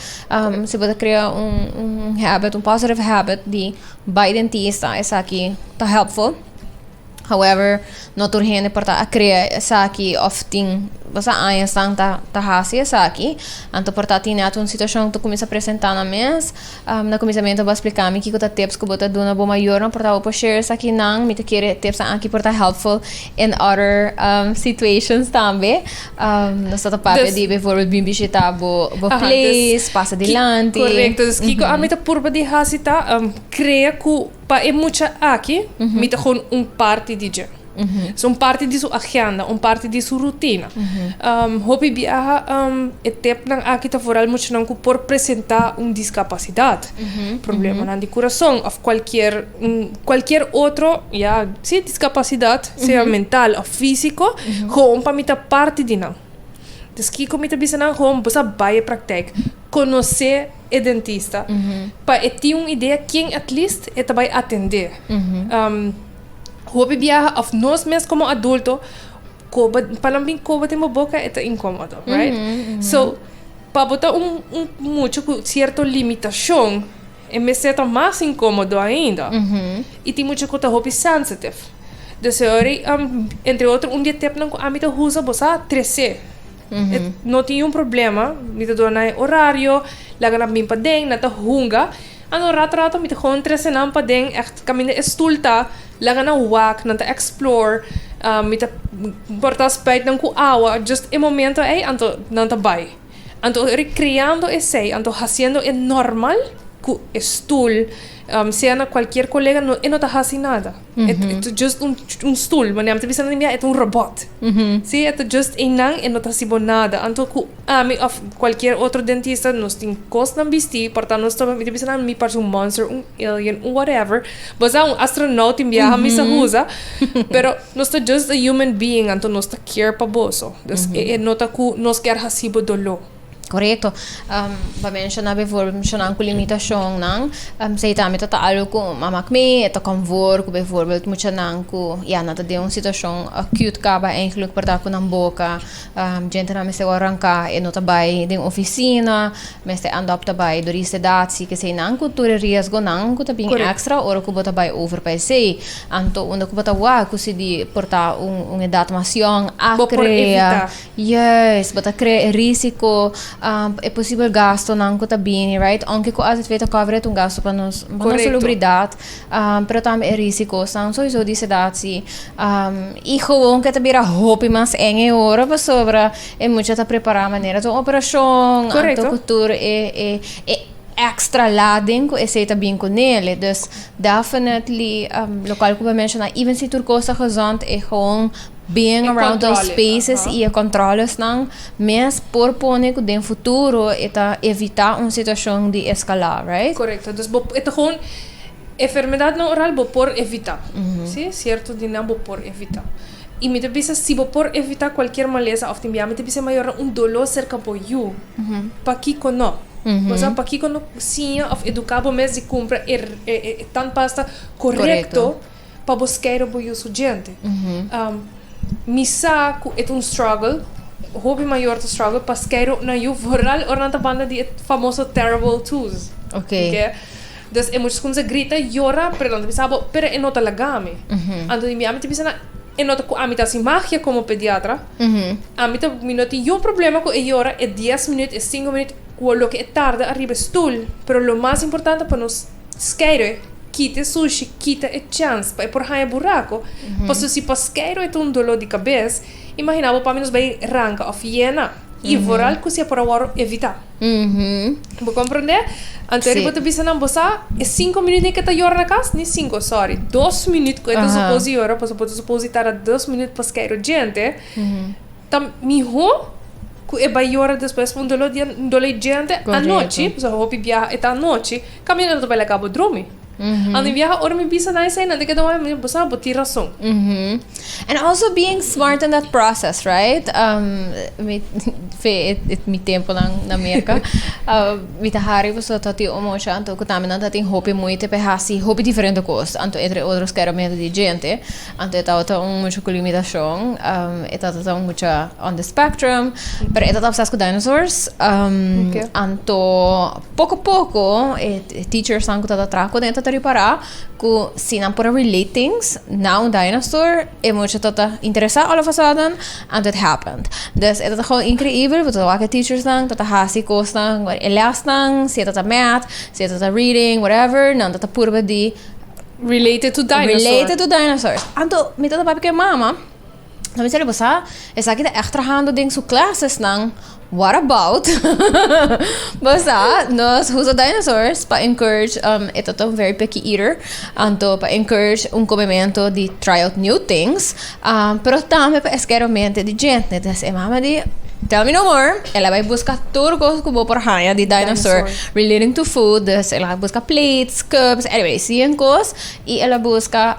si bo ta crea un habit un positive habit di bay dentista esaki ta helpful However, no tur hende por ta a crea esaki of tin boso años nan ta ta haci esaki. Anto por ta tine ato un situacion ta cuminsa presenta nan mes. Um, na cuminsamiento bo a splica mi kico ta tips cu bo ta duna bo mayornan por ta bo por share esakinan. Mi ta kere tipsnan aki por ta helpful in other, um, situations tambe. Um, nos ta ta papia di bijvoorbeeld bin bishita bo, bo place, pasa dilanti. Correcto. Dus kico ami ta purba di haci ta, um, crea cu. Pa e mucha aki, mi ta hono un parti di dje. So un parti di su agenda, un parti di su rutina. Hopi biaha e tepnan aki ta foral muchanan ku por presentá un diskapasidat, problemanan di kurason òf kualkier kualkier otro, ya, si, diskapasidat, sea mental òf físiko, houn pa mi ta parti di nan. Entonces, kiko mi ta bisa nan? Houn bo sa bai e praktèk, konosé. e dentista pa e tin un idea ken at least e ta bai atendé. Hopi biaha of nos mes como adulto koba pa nan bin koba den bo boka e ta incomodo, right? So pa bo ta un un mucho cu cierto limitacion e mester ta mas incomodo ainda y tin mucho cu ta hopi sensitive. Deseo ori entre otro un di e tepnan cu ami ta usa bo sa trece. No tin un problema, mi ta duna e horario, laga nan bin paden, nan ta hunga. Ano rato rato mi ta kojon trese nan paden, ègt kaminda e stoel ta, laga nan wak, nan ta explore. Mi ta porta spèit nan ku awa, just e momento ei anto nan ta bai. Anto rikreando esei, anto hasiendo e normal ku e stoel, sea na kualkier kolega, e no ta hasi nada. E ta just un stul. Ma nan ta bisa nan, mira, e ta un robòt. Sí, e ta just einan, e no ta hasi bo nada. Anto ku ami òf kualkier otro dentista nos tin kosnan bistí, pòrtá nos tropa. Mi ta bisa nan, mi parse un monster, un alien, un whatever. Bozòda un astronaut tin bia ami sa usa. Pero nos ta just a human being, anto nos ta care pa boso. E nota ku nos kier hasi bo doló. Korekto, pa menshoná bivorblo menshonan ku limitashonnan, esei tambe ta ta algu ku a mak mi e ta kòmvor ku bivorblo muchanan ku ya nan ta den un situashon aküt kaba en geluk por ta ku nan boka djentenan mester wòrdu ranká e no ta bai den ofisina, mester andòpta bai dor di sedatsi, keseinan ku tur e riesgonan ku ta bin èkstra ora ku bo ta bai over pa esei. Anto unda ku bo ta wak ku si di por ta un edat mas yòn akre a. Yes, bo ta crea e risico, um, e posibel gastonan cu ta bini, right? Aunke cu AZV ta cover et un gasto pa nos, pa nos Correcto. salubridad, um, pero tambe e risicosnan, sowieso di sedat si. Um, y gewoon cu e ta bira hopi mas eng e ora, pasobra e mucha ta prepara manera ta un operacion, Correcto. anto cu tur e, e, e extra laden cu esey ta bin cu nele. Dus, definitely, um, locual cu bo a menciona, even si tur cos ta gezond, e gewoon, Being around those spaces y e controlesnan mes por pone cu den futuro e ta evita un situacion di escala, right? Correcto. Dus bo, e ta gewoon enfermedadnan oral bo por evita. Sí, cierto dinnan bo por evita. Y mi ta bisa si bo por evita cualkier malesa of tin bia mi ta bisa e mayornan un dolo cerca bo yu, pakico no? Bo sa pakico no siña of educa bo mes di cumpra e e e tandpasta correcto? pa bo skero bo yu su djente mi sa ku e ta un struggle hopi mayor ta struggle pa skero nan yu vooral ora nan ta banda di e famoso terrible twos oke dus e muchas kumsa grita yora pero nan ta bisa bo pero e no ta laga mi anto di mi ami ta bisa nan e no ta ku ami ta hasi magia komo pediatra ami ta mi no tin yon problema ku e yora e dies minut e sinku minut ku loke e tarda ariba e stoel pero lo mas importante pa nos. Skeiro e kita e sushi kita e chans pa e por haña buraco pasobra si pa Skeiro e ta un dolor di cabes imagina bo pasobra nos bai ranca of yena y vooral cu siempre a worde evita bo comprende anto e riba ta bisa nan bo sa e cinco minuut ni ke ta yora na cas ni cinco sorry dos minuut cu e ta suppose di yora pasobra bo ta suppose di tara dos minuut pa Skeiro djente. Ta mihó ku e bai yora despues un doló di dolé diente anochi, pasobra hopi biaha e ta anochi, kaminda lo ta bai laga bo drumi. Ando mi biaha ora mi bisa na esei nan te keda wak mi bo sa bo tin rason. And also being smart in that process right fe e mi temponan na Merka mi ta hari pasobra ta tin un mochi anto ku tambe nan ta tin hopi muite p'e hasi hopi diferente kos anto entre otros keda medu di diente Anto e tabata un mucha cu limitashon, e tabata un mucha on the spectrum, pero e ta ta obsessed cu dinosaurs. Anto poco poco e teachers nan cu ta ta traha cu e ta ta ripara cu si nan por a relate things na un dinosaur e mucha ta ta interesa all of a sudden anto it happened. Dus e ta ta gewoon increibel bo ta ta wak e teachers nan ta ta haci cosnan, e les nan, si e ta ta math, si e ta ta reading, whatever, nan ta ta purba di. Related to dinosaur. Related to dinosaurs. Anto, mi tata papi ke mama, ta mi sali, bosa, esaki ta echt trahando den su klasesnan, what about, bosa, nos usa dinosaurs pa encourage, um, e tata un very picky eater, anto pa encourage un komemento di try out new things. Pero tambe pa e skeromente di djente. Entonces e mama di, Tell me no more. El a bai buska tur kos ku bo por haña di dinosaur relating to food. Dus el a buska plates, cups, anyway, cien kos. I el a buska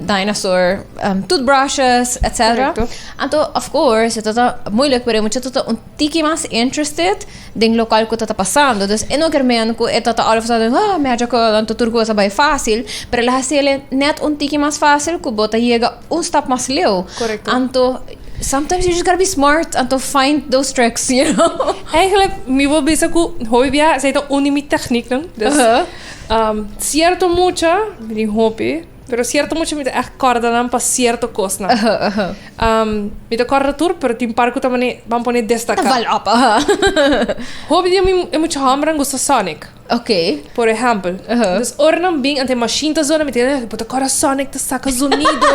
dinosaur toothbrushes, etc. Anto, of course, e tabata moeilijk, pero e muchacho tabata un. Tiki mas interested den local cu ta ta pasando. Dus e no ker meen cu e ta ta all of a sudden, ah, me haja cu anto tur cosa bay facil, pero el a haciele net un tiki mas facil cu bo ta yega un stap mas leu. Correcto. Anto, sometimes you just gotta be smart, anto find those tricks, you know? Eigenlijk, mi wil bisa cu hopi bia esei ta un di mi technieknan. Dus, Uh-huh. ehm, cierto mucha, mi tin hopi. Pero cierto mucha mi ta echt corda nan pa cierto cosnan. Uh -huh, uh -huh. mi ta corda tur, pero tin par cu ta mane, ban pone destaca. Ta val op, aha. Hopi di mi, e mucha hombrenan gusta Sonic. Ok. Por ejemplo. Uh -huh. Dus ora nan bin, ante machine ta zona, mi ta keda, bo ta corda Sonic ta saca zonido.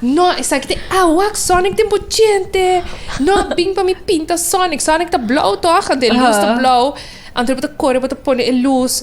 no, esaki te awak, Sonic den bo djente. No, bin pa mi pinta Sonic. Sonic ta blauw toch, ante luz ta blauw. Ante bo ta core, bo ta pone e luz.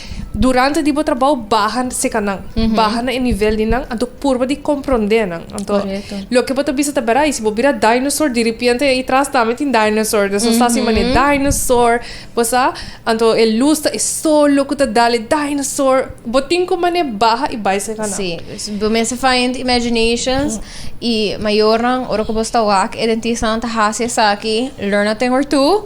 Durante di bo trabou baha seka nan, baha na e nivel di nan, anto purba di komprondé nan. Anto, loke bo ta bisa ta bera, i si bo bira dinosaur, diripiente ei tras tambe tin dinosaur, nan so sa sin manera dinosaur, bo sa? Anto e lus ta e sol lo ku ta dal e dinosaur. Bo tin ku manera baha i bai seka nan. Sí, bo mester find imaginations, i mayornan ora ku bo sta wak, e dentistanan ta hasi esaki, learn a thing or two.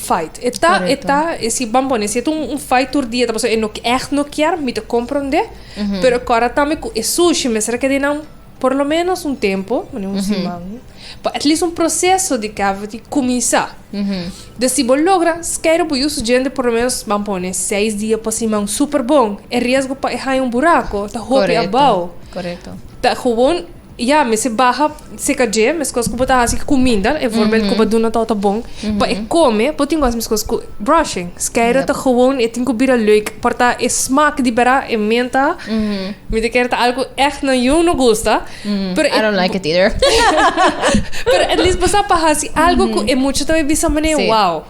Fight e ta e ta e si ban pone si e ta un un fight tur dia ta pasobra e no echt no kier mi ta comprende pero e cora tambe cu e sushi mester a keda ei nan por lo menos un tempo pone un siman pa at least un proceso di cavity cuminsa den si bo logra skero bo yu su djente por lo menos ban pone seis dia pa siman super bon e riesgo pa e haya un buraco ta hopi abao ta gewoon. Ya, mester baha seka dje, meskos ku bo ta hasi kuminda, e vormen ku bo duna tou ta bon, pa e kome, bo tin ku hasi meskos ku brushing. Skeido ta gewoon, e tin ku bira leuk, por ta e smak di bera, e menta, mi ta kere ta algu ku ègt nan yu no gusta, pero e. I don't like it either. Pero at least bo sa pa hasi algu ku e mucha ta bai bisa manera, wow.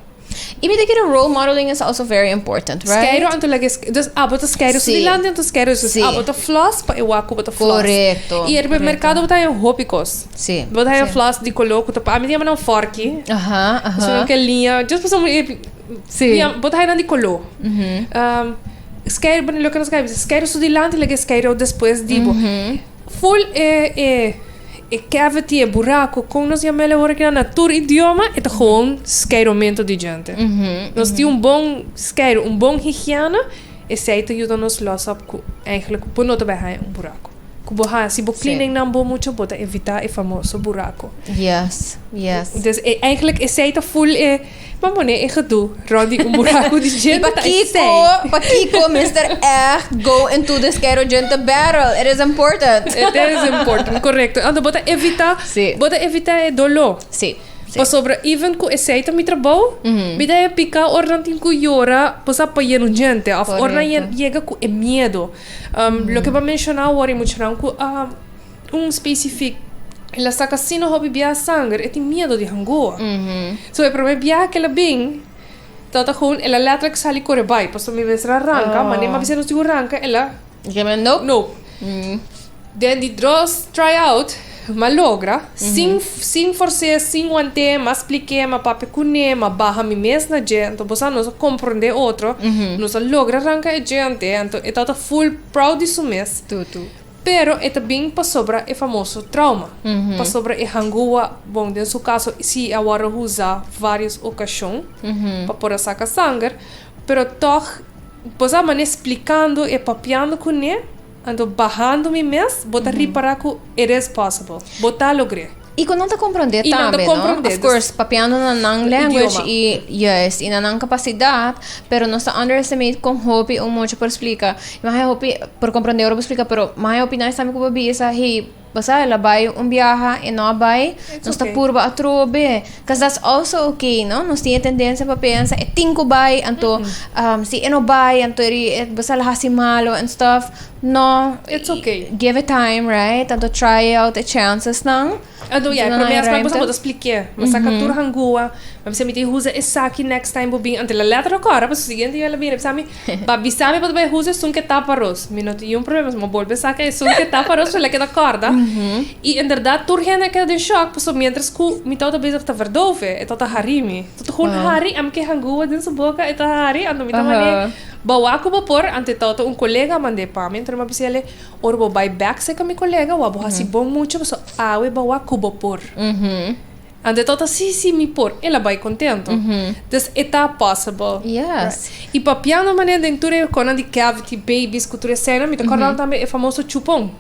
Y mi ta kere role modeling is also very important, right? Skeido anto like es dus abo ta skeido so di landi anto skeido es dus abo ta floss pa e wak ku bo ta floss. Korekto. Y riba e merkado bo ta haña hopi kos. Si. Bo ta haña floss di koló ku ta pa ami ta yama nan fòrki. Aha aha. Su nan ke liña just pasá un ejemplo Si. Bo ta haña nan di koló. Skeid loke nos ka bisa skeido so di lanti like e skeido despues di bo. Full e e. E cavity, e buraco, con nos yamel'e ora ki nan na tur idioma, e ta gewoon skeiromento di djente. Nos tin un bon skeiro, un bon higiena, esey ta yuda nos losa op cu eigenlijk bo no ta bay haya un buraco. Cu bo haya, si bo cleanen nan bo mucho, bo ta evita e famoso buraco. Yes, yes. Entonces, e, eigenlijk esey ta full e. Bo pone e gedoe rond di un buraco di djenta esey. Y pakiko, pakiko mester echt go into the Skerro Djenta Battle? It is important. It is important, correcto. Anto bo ta evita, si. bo ta evita e dolo. Si, si. Pasobra even cu esey ta mi trabou, mi ta e pica ora nan tin cu yora bo sa pa yen un djente of ora nan yega cu e miedo. Loke bo a menciona awor y muchanan cu a. Un specific el a saca sino hopi biaha sanger e tin miedo di hangoa so e prome biaha ke el a bin ta ta gewoon el a letterlijk sali core bai paso mi mester a ranca manera m'a bisa nos tin cu ranca el a nope den di dros try out m'a logra sin sin force sin wante m'a splique m'a papia cune m'a baha mi mes na dje anto bo sa nos a comprende otro nos a logra ranca e dje ante anto e tata full proud di su mes. Pero e ta bin pasobra e famoso trauma, pasobra e hangua, bon den su caso si a worde huza varios ocacion pa por a saca sanger, pero toch boso a mane splicando e papiando cune, anto bahando mi mes bo ta ripara cu it is possible, bo ta logr'e. Y cu nan ta comprende tambe, no? Of course, papiando na nan language y, yes, y na nan capacidad, pero nos ta underestimate con hopi un mucha por explica. Y mahe hopi por comprende ora bo explica, pero mahe hopi nan estambe cu bo bisa, hey, bo sabe, el a bay un biaha, e no a bay, nos ta purba atrobe. Cuz that's also okay, no? Nos tin e tendencia pa pensa, e tin cu bay, anto, um, si e no bay, anto eri, bo sa, el a haci malo and stuff. No It's ok Give it time right a do try out e chances nan A do ya pero mi a sprak boso bo ta splik'e mi saka tur hangua mi a bisa mi tin huza esaki next time bo bin anto la lèt a ròk ora paso siguiente yo el a bini a bisa mi ba bisa mi pa ta bai huza e sun ke tap aros mi no tin yun problema so mi a bolbe saka e sun ke tap aros paso el a keda kòrda i en bèrdat tur hende a keda den shòk paso mientras ku mi tabata bezig ta vèrdove e tabata hari mi totun hori ami ke hangua den su boka e ta hari anto mi ta mane. Bawa ku bo por, ante tau ta un kolega a manda e pa mi, anto nan bo a bisa el'e, Ora bo bai bèk serka mi kolega, wak bo hasi bon mucha, pasobra awe bawa ku bo por. Ante e tau ta, Sí, sí, mi por, el a bai kontentu. Des e ta possible. I papiando manera den tur e konan di cavity, babies ku tur eseinan, mi ta kòrda nan tambe e famoso chupon.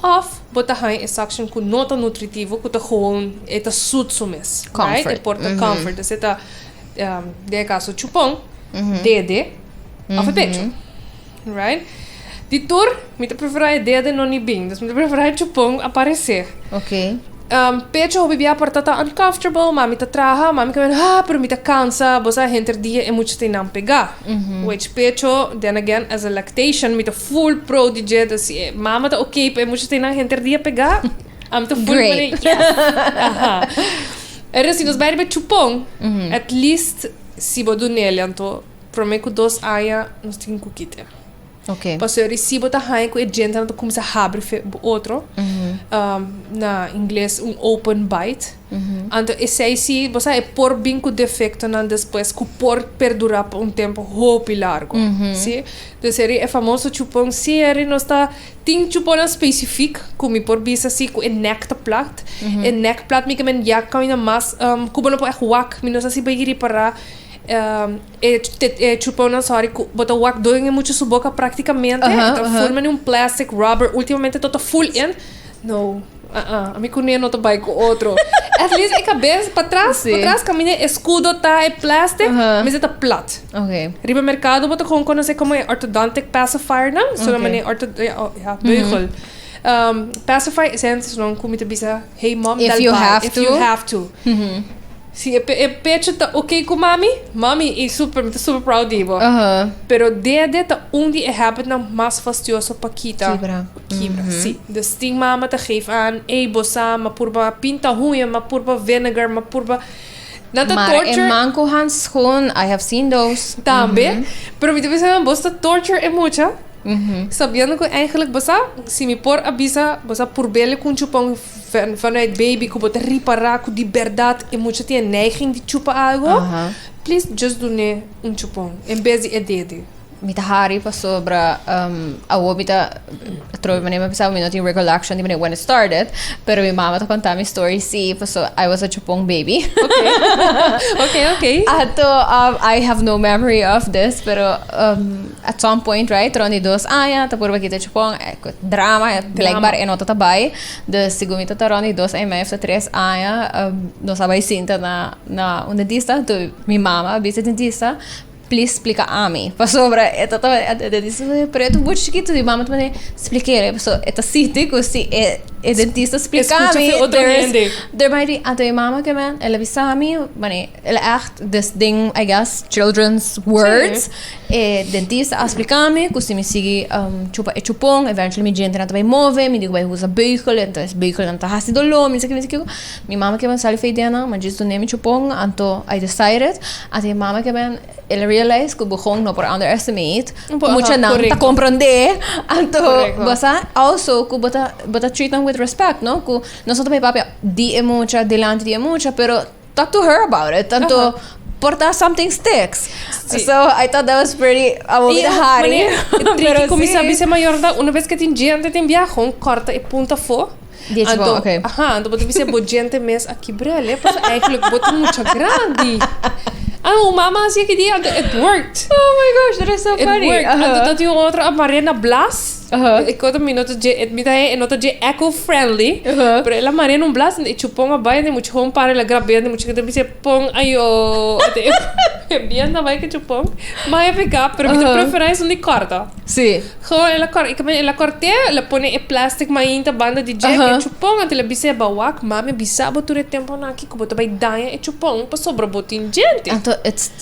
Of bo ta haña e suction ku no ta nutritivo ku ta gewoon e ta sut su mes, right? Comfort. E por ta comfort, esei ta um, den e kaso chupon, dede of e pecho, right? Di tur mi ta prefera e dede no ni bin, dus mi ta prefera e chupon aparesé. Ok. Pecho hopi bia por ta ta uncomfortable mami ta traha mami caminda haa pero mi ta cansa bo sa henter dia e mucha tin nan pega which pecho then again as a lactation mi ta full pro di dje ta si e mama ta ok pa e mucha tin nan henter dia pega ami ta full pone yes aha pero si nos bai riba e chupon at least si bo dunelian to prome cu dos aña nos tin cu kite. Okay. Paso e recibo ta haña cu e djentenan ta cuminsa habri fe bo otro. Um, na inglés, un open bite. Anto esei si, bo sa, e por bin cu defectonan despues cu por perdura pa un tempo hopi largo. Si? Dus eri e famoso chupon. Si, eri nos ta... Tin chuponnan specific cu mi por bisa si cu e nek ta plat. E nek plat mi ke men ya camina mas, um, cu bo no por echt wak. Mi no sa si bo a yiri para, um. E chupao nan sorry cu bo ta wak doe nge mucha su boca practicamente uh -huh, ta uh -huh. furma un plastic rubber ultimamente to ta full in no uh -uh. a mi cune no ta bai cu otro at least e cabeza pa tras sí. pa tras camina e escudo ta e plastic uh -huh. mesa ta plat okay. riba mercado bo ta con conoce como e orthodontic pacifier nan okay. so na mane orto ja, oh, ja beugel uh -huh. Um, pacify is entonces non como te bisa hey mom if you have if to, you have to. Mm -hmm. Si e pecho ta ok ku mami, mami i su mi ta super proud di bo. Pero dede ta un di e habitnan mas fastioso pa kita, Kibra. kibra, si. Dus tin mama ta geef aan, ey bo sa, m'a purba pinta huña, m'a purba vinegar, m'a purba, nan ta Mara e torture, man ku handschoen, I have seen those. tambe, pero mi ta bisa nan boso ta torture e mucha, sabiendo ku eigenlik bosa, si mi por a bisa, bosa purbele ku un chupon. Vanuit baby ku bo ta ripará ku di bèrdat e mucha tin e neiging di chupa algu, please just dun'é un chupon en bes di e dede. Mi ta hari pasobra um, awor mi ta trobe manera mi pensaba mi no tin recollection di manera when it started, pero mi mama ta kontá mi story sí, paso I was a chupon baby. Okay, okay. Ato um, I have no memory of this, pero um, At some point right tron di dos aña ta por ba kita chupon drama blijkbaar e no ta ta bai dus segun mi ta ta rond di dos aña y medio of ta tres aña nos a bai sinta na na un dentista tu mi mama a bisa e dentista please splika ami pasobra e ta ta e dentista ta bay pero e ta un bochi chikito mi mama ta manda splik'el paso e ta sinti ku si e e dentista splika mi der is der bay di anto mi mama ke men el a bisa mi mane. El a act des den I guess children's words. E dentista a splica mi cu si mi sigui chupa e chupon eventually mi diente nan ta bay move, mi digo bay usa beugel, entonces beugel nan ta haci dolor, mi no sa ki, mi no sa kico. Mi mama kiba sali fey den nan, mi a djis dune mi chupon, anto I decided, anto mi mama kiba el a realize cu begon no por underestimate cu mucha nan ta comprende, anto bo sa also cu bo ta bo ta treat nan with respect no cu nos no ta bay papia di e mucha, delante di e mucha pero. talk to her about it tanto uh -huh. porta something sticks sí. so I thought that was pretty a bit hard pero como sí. sabe se mayor da una vez que tin gente tin viaje un corta e punta fo Dieci anto, okay. Aha, anto bote bise bo gente mes aki brele, pues eigenlijk bote mucha grandi. Ah, hoe mama zei die, it worked. Oh my gosh, that is so it funny. Worked. Uh-huh. En toen had hij een andere, Marina Blas. E koto mi no ta dje mi ta e no ta dje eco friendly pero el a marea n'un blas y chupon a bay den mucha home party el a grabea den mucha gente a bisa pon ayo e bien ta bay cu chupon mas a peka pero mi ta prefera esun di corta ho el a cor el a cortea el a pone e plastic mainta banda di dje cu e chupon anto el a bisa ba wak mami a bisa bo tur e temponan aki cu bo ta bay daña e chupon pasobra bo tin djente.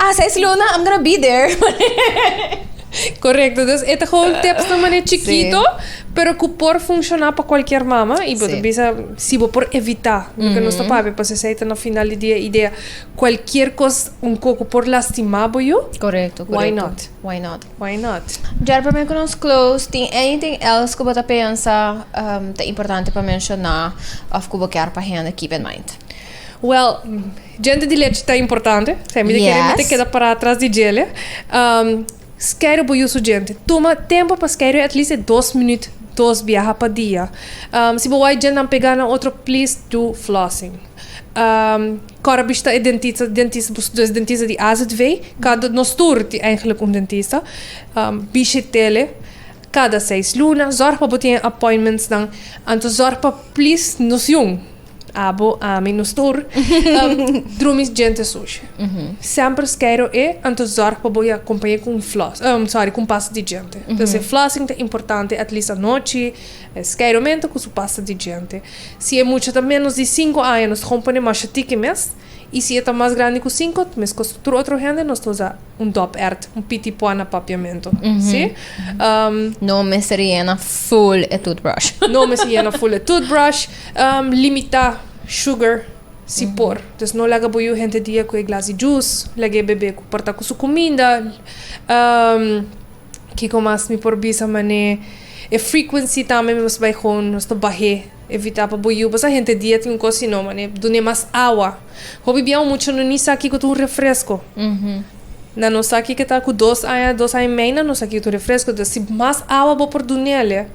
Ah, seis luna I'm gonna be there. Correcto, dus e ta gewoon teksto mane chikito, pero ku por funshoná pa kualkier mama, i bo ta bisa si bo por evitá, pasobra nos ta papia pa sesa e ta na final di dia e idea, kualkier kos un kos ku por lastimá bo yu, why not? Why not? Djor promé ku nos close, tin anything else ku bo ta pensa ta importante pa menshoná òf ku bo kèr pa hende keep in mind? Well. Diente di lechi ta importante. Esei mi ta kere mi ta Yes. keda pará atras di djele. Am, skeiru bo yusu diente. Tuma tempu pa skeiru at least e dos minuut, dos biaha pa dia. Am, si bo wai djentenan pegá na otro, please do flossing. Am, kòr a bishita e dentista, dentista, bo studa dentista di azv, kado nos tur tin eigenlik un dentista. Am, bishit'ele kada seis luna. Zòrg pa bo tin e appointmentsnan. Anto zòrg pa please nos jun. Abo, ami, nos tur. Drumi djente sushi. Semper skeiro e, anto zorg pa bo ya kompañe ku un flos, sorry, ku un pasta di djente. Entonces e flossing ta importante at least anochi, e skeiro mente ku su pasta di djente. Si e mucha ta ménos di sinku aña nos ta kompone masha tiki mes. I si e ta mas grandi ku sinku, meskos ku tur otro hende, nos ta usa un dòpert, un piti pua na papiamentu. Si? Ehm, No mester yena full e toothbrush. no mester yena full e toothbrush. Ehm, limita sugar, si por. Dus no laga bo yu hende dia ku e glas di jus, laga e bebe ku por ta ku su kuminda. Ehm, kiko mas mi por bisa, man'e e frequency tambe mi mester bai gewoon, mi mester bah'é. Evitá pa bo yu pasá henter dia tin un kos sino manera dun'é mas awa. Hopi bia un mucha no ni sa kiko ta un refresko. Na nos aki ke ta ku dos aña, dos aña i mei na no sa kiko ta un refresko. Enton si mas awa bo por dunele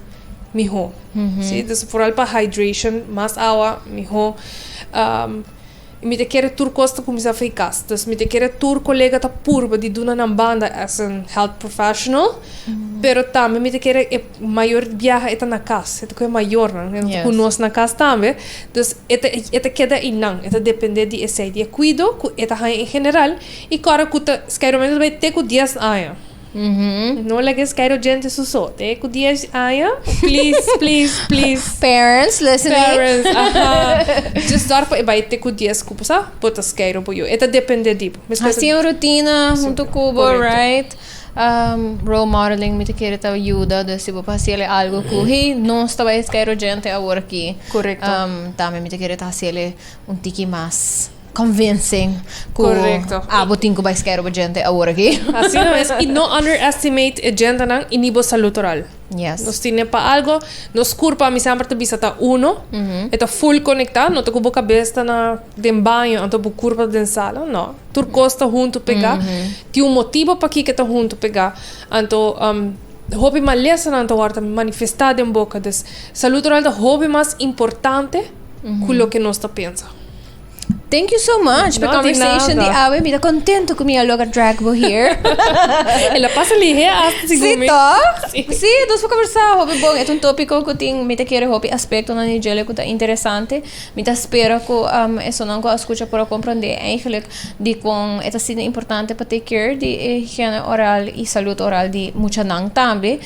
mihó. Si, entonces foral pa hydration mas awa mihó. I mi ta kere tur kos ta kuminsá frikas. Dus mi ta kere tur kolega ta purba di duna nan banda as un health professional. Pero tambe mi ta kere e mayor biaha e ta na kas. E ta ku e mayornan. E no ta ku nos na kas tambe. Dus e ta e ta keda einan. E ta dependé di esei, di e kuido ku e ta haña en general. I kòrda ku ta, skairomento ta bai te ku dies aña. No laga es Cairo djente su so. Te cu dies aña please please please. Parents listening. Parents aha. Just door pa e bay te cu dies cupo sa bota scairo bo yo. E ta depende di bo. Haci un rutina hunto cubo right. Um role modeling mi ta kere ta yuda dus si bo ta haciele algo cu hey nos ta bay scairo djente awor aki. Corecto. Um tambe mi ta kere ta haciele un tiki mas. convincing cu Correcto. abo tin cu bay scare bo gente ahora aquí. Asina mes, y no underestimate e gentenan y ni bo salud oral. Yes. Nos tin e pa algo, nos curpo, ami semper ta bisa ta uno, e ta full conecta, no ta cu bo cabes ta na den baño anto bo curpo ta den sala, no, tur cos ta hunto pega, tin un motibo paki ke ta hunto pega, anto um hopi malesanan ta wordo manifesta den boca, dus salud oral ta hopi mas importante cu loke nos ta pensa. Thank you so much per no, conversation di awe. Mi da contento ku mi a logra drag bo here. e la pasa li he hasta si Sí, toch? Sí. sí, dus pa conversar hopi bon. Et un tópico ku tin mi ta kere hopi aspecto na ni jele ku ta interesante. Mi ta spera ku um, esonan ku a escucha por a comprende eigenlijk di kon et asina importante pa take care di e higiene oral y salud oral di muchanan tambe.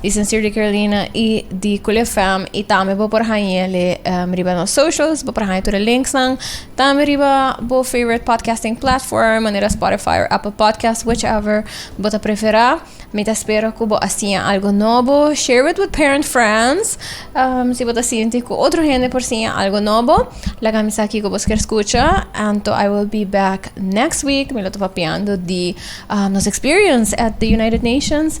Di Sincere di Carolina y di Cooley FM y tambe bo por hañele riba nos socials, bo por haña tur e links nan. Tambe riba bo favorite podcasting platform manera Spotify or Apple Podcast whichever bo ta prefera. Mi ta spera cu bo a siña algo nobo. Share it with parent friends si bo ta sinti cu otro hende por siña algo nobo. Laga mi sa kico bo ker scucha. Anto I will be back next week. Mi lo ta papiando di nos experience at the United Nations.